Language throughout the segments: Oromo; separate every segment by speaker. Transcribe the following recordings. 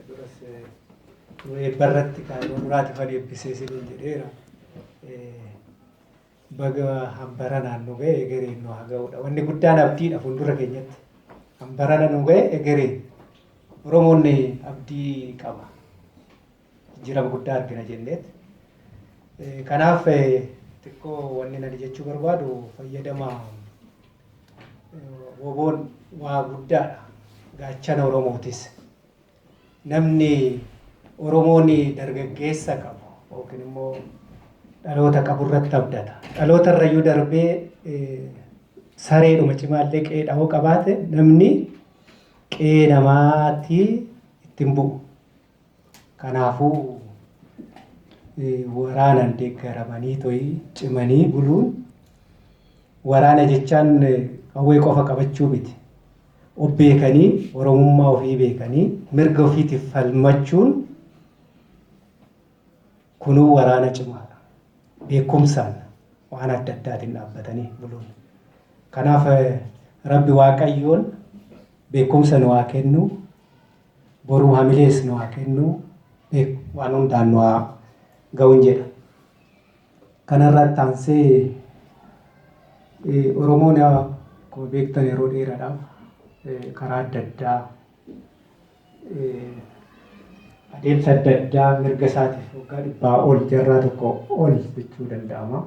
Speaker 1: Duras nu eebba irratti kan nu muraati kan eebbisee siniin jedheera. Baga hambaranaan nu ga'e egereen nu haa ga'udha. Wanni guddaan abdiidha fuuldura keenyatti. Hambarana nu ga'e egereen. Oromoon abdii qaba. jijjiirama guddaa argina jenneet. Kanaaf xiqqoo wanni nani jechuu barbaadu fayyadama woboon waa guddaadha. Gaachana Oromootis. Namni Oromoon dargaggeessa qabu yookiin immoo dhaloota qabu irratti abdata. Dhaloota irrayyuu darbee sareedhuma cimaallee qe'ee dhahoo qabaate namni qe'ee namaatii ittiin bu'u. Kanaafuu waraanaan deeggaramanii to'ii cimanii buluun waraana jechaan qawwee qofa qabachuu miti. Of beekanii Oromummaa ofii beekanii mirga ofiitiif falmachuun kunuu waraana cimaadha. Beekumsaan waan adda addaatiin dhaabbatanii buluun. Kanaaf Rabbi Waaqayyoon beekumsa nu haa kennu. Boruu hamilees nu haa kennuu beeku waan hundaan nu haa ga'uun jedha. Kanarra itti aansee Oromoon akkuma beektan yeroo dheeraadhaaf karaa adda addaa adeemsa adda addaa mirga isaatiif waggaa dhibbaa ol jarraa tokko ol jechuu danda'ama.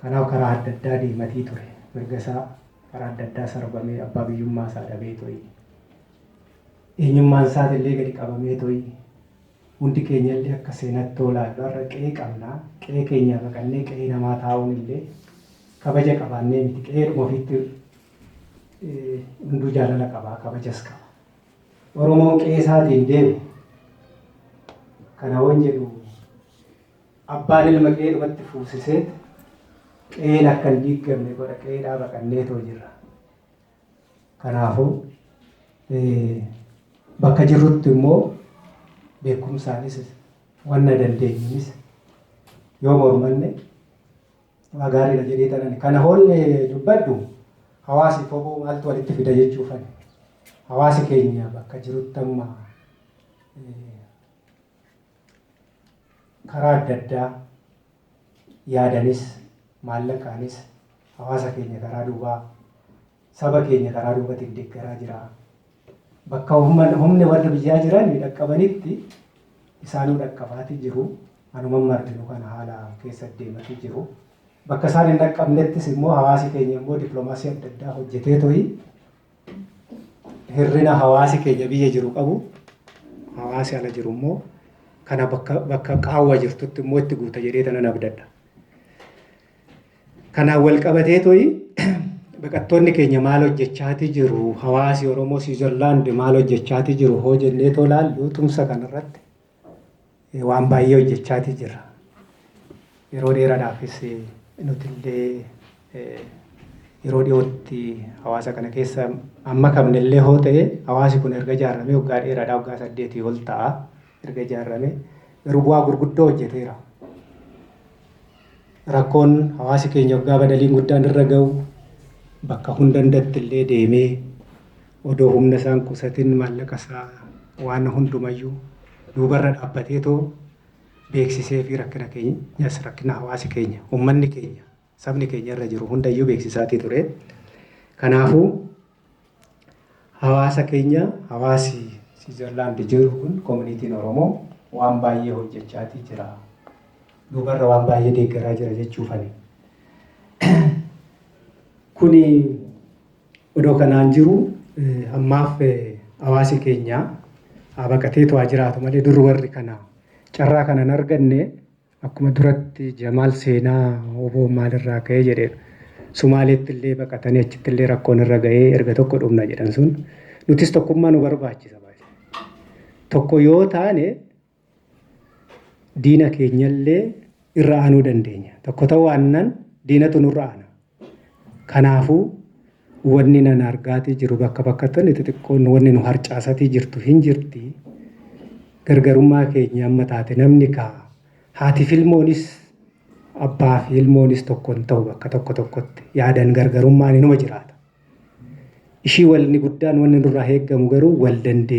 Speaker 1: Kanaaf karaa adda addaa deematii ture. Mirga isaa karaa adda addaa sarbamee abbaa biyyummaa isaa dhabee toi. Eenyummaan isaati illee gadi qabamee toi. Hundi keenya illee akka seenattoo laallu har'a qe'ee qabna. Qe'ee keenyaa baqannee qe'ee namaa taa'uun illee kabaja qabaannee miti. Qe'eedhuma ofiitti hunduu jaalala qaba, kabajas qaba. Oromoon qe'ee isaatiin deemu kana waan jedhu Abbaan ilma qe'eedhumatti fuusiseet qe'een akka hin diiggamne godha qe'eedhaa baqanneetoo jirra. Kanaafuu bakka jirrutti immoo beekumsaanis wanna dandeenyunis yoo mormanne waa gaariidha jedhee tanani. Kana hoolne dubbadhu hawaasi koboo maaltu walitti fida jechuufani. Hawaasi keenya bakka jirutti amma karaa adda addaa yaadanis, maallaqaanis hawaasa keenya karaa duubaa, saba keenya karaa duubatiin deeggaraa jira. Bakka humni warra biyyaa jiran dhaqqabanitti isaanuu dhaqqabaati jiru. Anuman marginu kana haala keessa deemati jiru. Bakka isaan hin dhaqqabnettis immoo hawaasi keenya immoo dippiloomaasii adda addaa hojjetee to'i. hirrina hawaasi keenya biyya jiru qabu hawaasi ala jiru immoo kana bakka bakka qaawwa jirtutti immoo itti guuta jedhee tanan abdadha. Kanaan wal qabatee to'i baqattoonni keenya maal hojjechaati jiru hawaasi Oromoo Siwiizerlaand maal hojjechaati jiru hoo jennee too laallu tumsa kanarratti waan baay'ee hojjechaatii jirra. Yeroo dheeraadhaafis nutillee yeroo dhiyootti hawaasa kana keessa amma kamnellee hoo ta'e hawaasi kun erga ijaarramee waggaa dheeraadhaa waggaa saddeetii ol ta'a erga ijaarramee garuu bu'aa gurguddoo hojjeteera. Rakkoon hawaasi keenya waggaa badaliin guddaan irra ga'u bakka hundandatti illee deemee Odoo humna isaa hin qusatin maallaqa isaa waan hundumayyuu duubarra dhaabbateetoo beeksiseefii rakkina keenyas rakkina hawaasi keenya, ummanni keenya, sabni keenya irra jiru hundayyuu beeksisaatii ture. Kanaafuu hawaasa keenya hawaasi Siwiizerlaandi jiru kun komuniitiin Oromoo waan baay'ee hojjechaatii jira. Duubarra waan baay'ee deeggaraa jira jechuufani. Kuni Odoo kanaan jiruu ammaaf hawaasi keenya haa baqateetu haa jiraatu malee dur warri kana carraa kana hin arganne akkuma duratti Jamaal seenaa wbo maalirraa ka'ee jedhe Sumaaleetti illee baqatanii achitti illee rakkoon irra ga'ee erga tokko dhumna jedhan sun nutis tokkummaa nu barbaachisa. Tokko yoo taane diina keenyallee irra aanuu dandeenya. Tokko ta'uu aannan diinatu nurra aana. Kanaafuu wanni nan argaatii jiru bakka bakkatti inni xixiqqoon wanni nu harcaasatii jirtu hin jirti. Gargarummaa keenya amma taate namni kaa haati filmoonis abbaa fi ilmoonis tokko hin ta'u bakka tokko tokkotti yaadan gargarummaan inuma jiraata. Ishii walni guddaan wanni nurraa eeggamu garuu wal dandeenya.